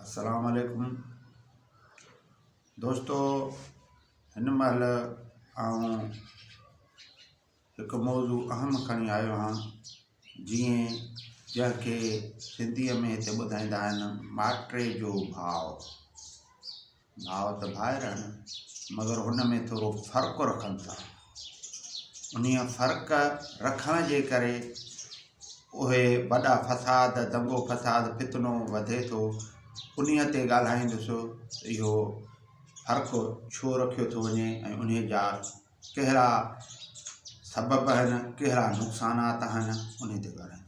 السلام عليڪم دوستو هن مهل آئون هڪ موضوع اهم کڻي آيو آهيان جيئن جنهن کي سنڌيء ۾ هتي ٻڌائيندا آهن ماٽري جو ڀاء ڀاء ته ڀائر آهن مگر ان ۾ ٿورو فرق رکن ٿا انهيء فرق رکڻ جي ڪري اهي وڏا فساد دنگو فساد فتنو وڌي ٿو انهيء تي ڳالهائيندس اهو فرق ڇو رکيو ٿو وڃي ۽ انهيء جا ڪهڙا سبب آهن ڪهڙا نقصانات آهن انهيء تي ڳالهائيندس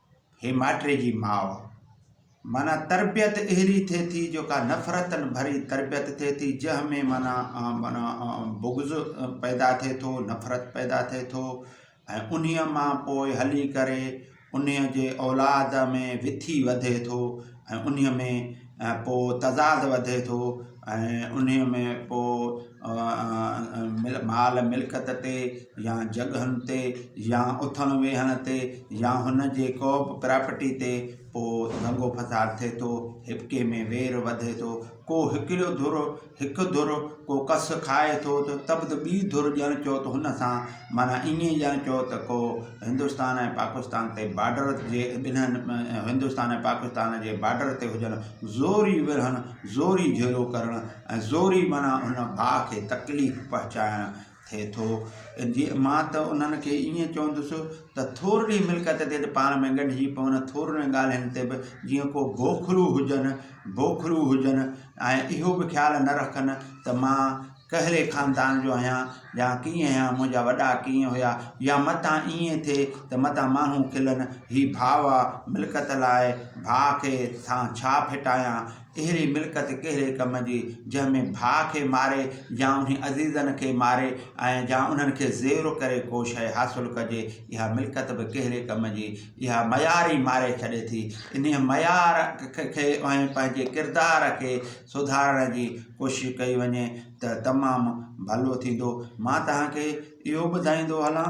هي مائٽري جي ماء معنيٰ تربيت اهڙي ٿئي ٿي جو ڪا نفرتن ڀري تربيت ٿئي ٿي جنهن ۾ معنيٰ معنيٰ بغض پيدا ٿئي ٿو نفرت پيدا ٿئي ٿو ۽ انهيء مان پوء هلي ڪري انهيء جي اولاد ۾ وٿي وڌي ٿو ۽ انهيء ۾ پوء تضاد وڌي ٿو ۽ انهيء ۾ پوء مال ملڪت تي يا جڳهن تي يا اٿڻ ويهڻ تي يا هن جي ڪوبه پراپرٽي تي پوء دنگو فساد ٿئي ٿو هٻڪي ۾ وير وڌي ٿو ڪو هڪڙو ڌر هڪ ڌر ڪو ڪس کائي ٿو ته تب ته ٻي ڌر ڄڻ چئو ته هن سان معنيٰ ائين ئي ڄڻ چئو ته ڪو هندستان ۽ پاڪستان تي بارڊر جي ٻنهن هندستان ۽ پاڪستان جي بارڊر تي هجن زوري ورهن زوري جهيڙو ڪرڻ ۽ زوري معنيٰ هن ڀاء کي تڪليف پهچائڻ ٿئي ٿو جي مان ته انهن کي ائين چوندس ته ٿورڙي ملڪيت تي ته پاڻ ۾ ڳنڍجي پون ٿورڙين ڳالهين تي به جيئن ڪو بوکرو هجن بوکرو هجن ۽ اهو به خيال نه رکن ته مان ڪهڙي خاندان جو آهيان يا ڪيئن آهيان منهنجا وڏا ڪيئن هيا يا متان ائين ٿئي ته متان ماڻهو کلن هي ڀاء آ ملڪيت لاء ڀاء کي سان ڇا ڦٽايان اهڙي ملڪت ڪهڙي ڪم جي، جنهن ۾ ڀاء کي ماري يا انهي عزيزن کي ماري ۽ يا انهن کي زيرو ڪري ڪو شيء حاصل ڪجي، اها ملڪت به ڪهڙي ڪم جي، اها ميار ئي ماري ڇڏي ٿي. انهيء ميار کي ۽ پنهنجي ڪردار کي سڌارڻ جي ڪوشش ڪئي وڃي ته تمام ڀلو ٿيندو. مان توهان کي اهو ٻڌائيندو هلان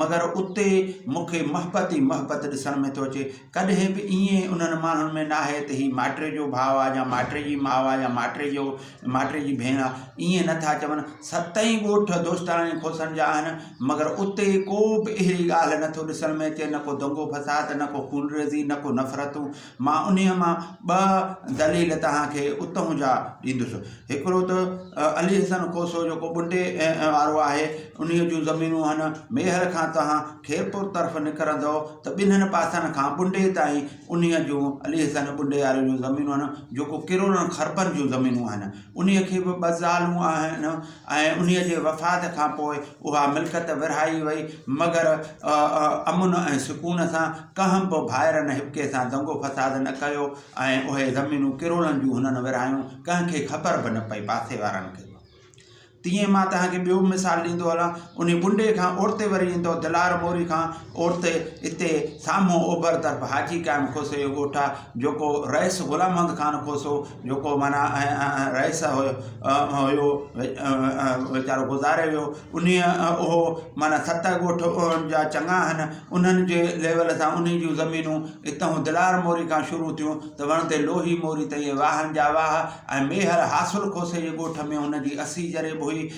مگر اتي مون کي محبت ئي محبت ڏسڻ ۾ ٿو اچي. ڪڏهن به ائين انهن ماڻهن ۾ ناهي ته هي مائٽي جو ڀاء آ يا مائٽي جي ماء آ يا مائٽي جو مائٽي جي ڀيڻ آ. ائين نه ٿا چون. ست ئي ڳوٺ دوستاڻن ۽ کوسن جا آهن. مگر اتي ڪو به اهڙي ڳالهه نه ٿو ڏسڻ ۾ اچي نه ڪو دنگو فساد نه ڪو خونريزي نه ڪو نفرتون. مان انهيء مان ٻه دليل توهان کي اتهون جا ڏيندس. هڪڙو ته علي حسن کوسو جيڪو ٻنڊي وارو آهي، انهيء جون زمينون هن ميهر کان توهان خيرپور طرف نڪرندؤ ته ٻنهن پاسن کان ٻنڊي تائين انهيء جون، علي حسن ٻنڊي واري جون زمينون آهن، جيڪو ڪروڙن خربن جون زمينون آهن. انهيء کي به ٻه زالون آهن. ۽ انهيء جي وفات کان پوء اها ملڪت ورهائي وئي، مگر امن ۽ سڪون سان، ڪنهن به ڀائرن هٻڪي سان دنگو فساد نه ڪيو ۽ اهي زمينون ڪرولن جون هنن ورهايون، ڪنهن کي خبر به نه پئي، پاسي وارن کي به. تيئن ئي مان توهان کي ٻيو به مثال ڏيندو هلان، انهي ٻنڊي کان اورتي وري ايندؤ دلار موري کان، عورت اتي سامهون اوڀر طرف حاجي قائم کوسي جو ڳوٺ آ جيڪو رئيس غلام محمد خان کوسو جيڪو معنيٰ رئيس هيو ويچارو گذاري ويو انهيء اهو معنيٰ ست ڳوٺ انهن جا چڱا آهن انهن جي ليول سان انهي جون زمينون اتهون دلار موري کان شروع ٿيون ته وڻ تي لوهي موري تائين واهن جا واهه ۽ ميهر حاصل کوسي جي ڳوٺ ۾ هن جي اسي جريب هئي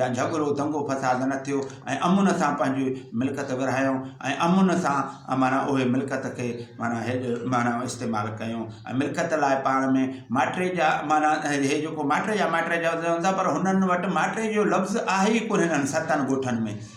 جا جهڳڙو دنگو فساد نه ٿيو ۽ امن سان پنهنجي ملڪيت ورهايائون ۽ امن سان معنيٰ اهي ملڪيت کي معنيٰ هيڏ معنيٰ استعمال ڪيائون ۽ ملڪيت لاء پاڻ ۾ ماٽري جا معنيٰ هي جيڪو ماٽري جا ماٽري جا هوندا پر هنن وٽ ماٽري جو لفظ آهي ئي ڪونهي هنن ستن ڳوٺن ۾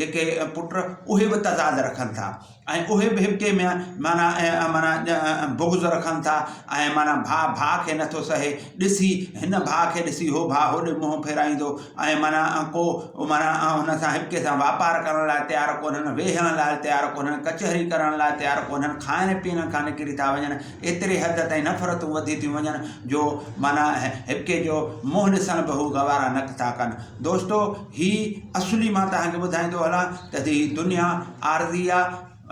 جيڪي پٽ اهي به تضاد رکن ٿا ۽ اهي به هڪ ٻئي ۾ معنيٰ معنيٰ بغض رکن ٿا ۽ معنيٰ ڀاء ڀاء کي نٿو سهي ڏسي هن ڀاء کي ڏسي هو ڀاء هوڏي منهن ڦيرائيندو ۽ معنيٰ ڪو معنيٰ هن سان هڪ ٻئي سان واپار ڪرڻ لاء تيار ڪونهن ويهڻ لاء تيار ڪونهن ڪچهري ڪرڻ لاء تيار ڪونهن کائڻ پيئڻ کان نڪري ٿا وڃن ايتري حد تائين نفرتون وڌي ٿيون وڃن جو معنيٰ هڪ ٻئي جو منهن ڏسڻ به هو گوارا نڪ ٿا ڪن دوستو هي اصلي مان توهان کي ٻڌائيندو هلان ته هي دنيا عارضي آ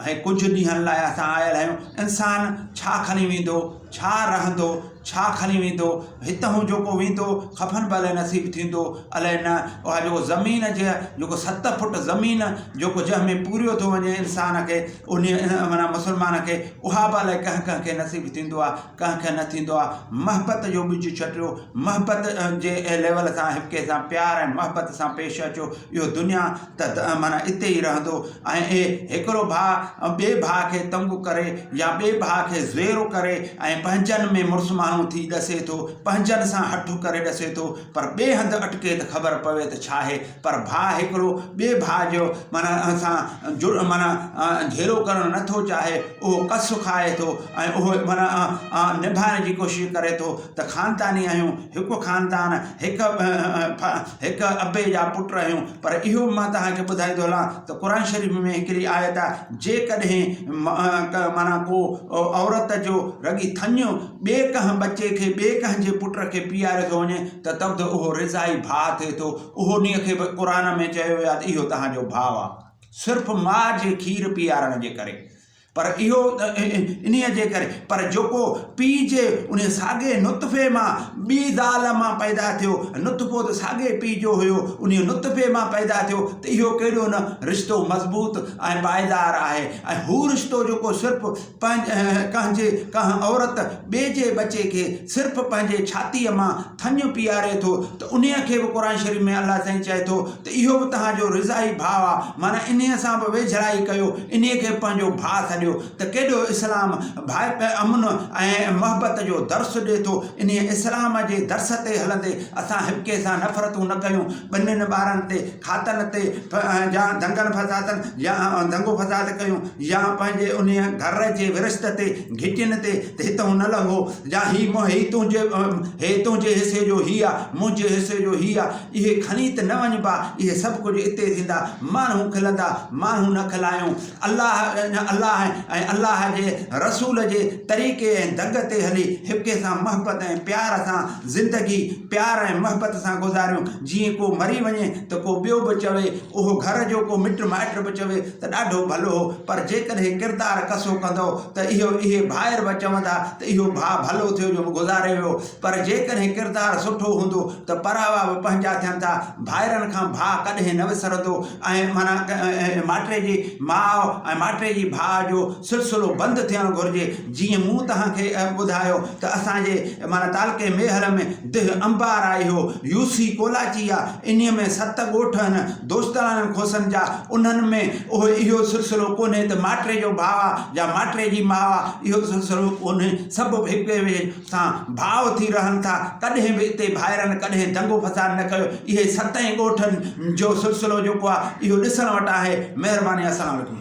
۽ ڪجهه ڏينهن لاء اسان آيل آهيون انسان ڇا کڻي ويندو ڇا رهندو ڇا کڻي ويندو هتهون جيڪو ويندو خفن به الئي نصيب ٿيندو الئي نه اها جيڪو زمين جي جيڪو ست فٽ زمين جيڪو جنهن ۾ پوريو ٿو وڃي انسان کي انهي معنيٰ مسلمان کي اها به الئي ڪنهن ڪنهن کي نصيب ٿيندو آ ڪنهن کي نه ٿيندو آ محبت جو ٻج ڇٽيو محبت جي ليول سان هڪٻئي سان پيار ۽ محبت سان پيش اچو اهو دنيا ته معنيٰ اتي ئي رهندو ۽ اهي هڪڙو ڀاء ٻئي ڀاء کي تنگ ڪري يا ٻئي ڀاء کي زيرو ڪري ۽ پنهنجن ۾ مڙس ماڻهو ٿي ڏسي ٿو پنهنجن سان هٺ ڪري ڏسي ٿو پر ٻئي هنڌ اٽڪي ته خبر پوي ته ڇاهي پر ڀاء هڪڙو ٻئي ڀاء جو معنيٰ ان سان جڙ معنيٰ جهيڙو ڪرڻ نه ٿو چاهي، اهو ڪس کائي ٿو ۽ اهو معنيٰ نڀائڻ جي ڪوشش ڪري ٿو ته خانداني آهيون، هڪ خاندان، هڪ هڪ ابي جا پٽ آهيون، پر اهو به مان توهان کي ٻڌائيندو هلان ته قرآن شريف ۾ هڪڙي آيت آهي جيڪڏهن معنيٰ ڪو عورت جو رڳي ٿڃ ٻئي ڪنهن ٻچي کي، ٻئي ڪنهن جي پٽ کي پياريو ٿو وڃي ته تب ته اهو رضائي ڀاء ٿئي ٿو. اهو نيء کي به قرآن ۾ چيو ويو آهي ته اهو توهان جو ڀاء آهي. صرف ماء جي کير پيارڻ جي ڪري. پر اهو انهيء جي ڪري. پر جيڪو پيء جي انهيء ساڳئي نطفي مان ٻي زال مان پيدا ٿيو، نطفو ته ساڳئي پيء جو هيو، انهيء نطفي مان پيدا ٿيو ته اهو ڪيڏو نه رشتو مضبوط ۽ پائيدار آهي ۽ هو رشتو جيڪو صرف ڪنهن جي ڪنهن عورت ٻئي جي ٻچي کي صرف پنهنجي ڇاتيء مان ٿڃ پيئاري ٿو ته انهيء کي به قرآن شريف ۾ الله سائين چئي ٿو ته اهو به توهان جو رضاعي ڀاء آ معنيٰ انهيء سان به ويجهڙائي ڪيو انهيء کي به پنهنجو ڀاء سڏيو ته ڪيڏو اسلام ڀائپ امن ۽ محبت جو درس ڏي ٿو انهيء اسلام جي درس تي هلندي اسان هٻڪي سان نفرتون نه ڪيون ٻنين ٻارن تي، کاتن تي، يا دنگن فسادن يا دنگو فساد ڪيو، يا پنهنجي انهيء گهر جي ورشت تي، گهٽين تي، ته هتئون نه لنگهو، يا هي هي تنهنجي هي تنهنجي حصي جو هي آ، منهنجي حصي جو هي آ، اهي کڻي ته نه وڃبا، اهي سڀ ڪجهه اتي ٿيندا، ماڻهو کلندا، ماڻهو نه کلايون، الله الله ۽ الله جي رسول جي طريقي ۽ دڳ تي هلي، هڪ ٻئي سان محبت ۽ پيار سان زندگي پيار ۽ محبت سان گذاريون، جيئن ڪو مري وڃي ته ڪو ٻيو به چوي، اهو گهر جو ڪو مٽ مائٽ به چوي ته ڏاڍو ڀلو هو، پر جيڪڏهن ڪردار ڪسو ڪندؤ ته اهو اهي ڀائر به چوندا ته اهو ڀاء ڀلو ٿيو جو گذاري ويو، پر جيڪڏهن ڪردار سٺو هوندو ته پراوا به پنهنجا ٿين ٿا، ڀائرن کان ڀاء ڪڏهن نه وسرندو ۽ معنيٰ مائٽري جي ماء ۽ مائٽري جي ڀاء جو سلسلو بند ٿيڻ گهرجي. جيئن مون توهان کي ٻڌايو ته اسان جي معنيٰ تعلقي ميهر ۾ ديهه انبار آهي اهو يو سي ڪولاچي آ انهيء ۾ ست ڳوٺ آهن دوستاڻن کوسن جا انهن ۾ اهو اهو سلسلو ڪونهي ته ماٽري جو ڀاء آ يا ماٽري جي ماء آ اهو سلسلو ڪونهي سڀ هڪ ٻئي سان ڀاء ٿي رهن ٿا ڪڏهن به اتي ڀائرن ڪڏهن دنگو فساد نه ڪيو اهي ستئي ڳوٺن جو سلسلو جيڪو آ اهو ڏسڻ وٽ آهي مهرباني السلام عليڪم.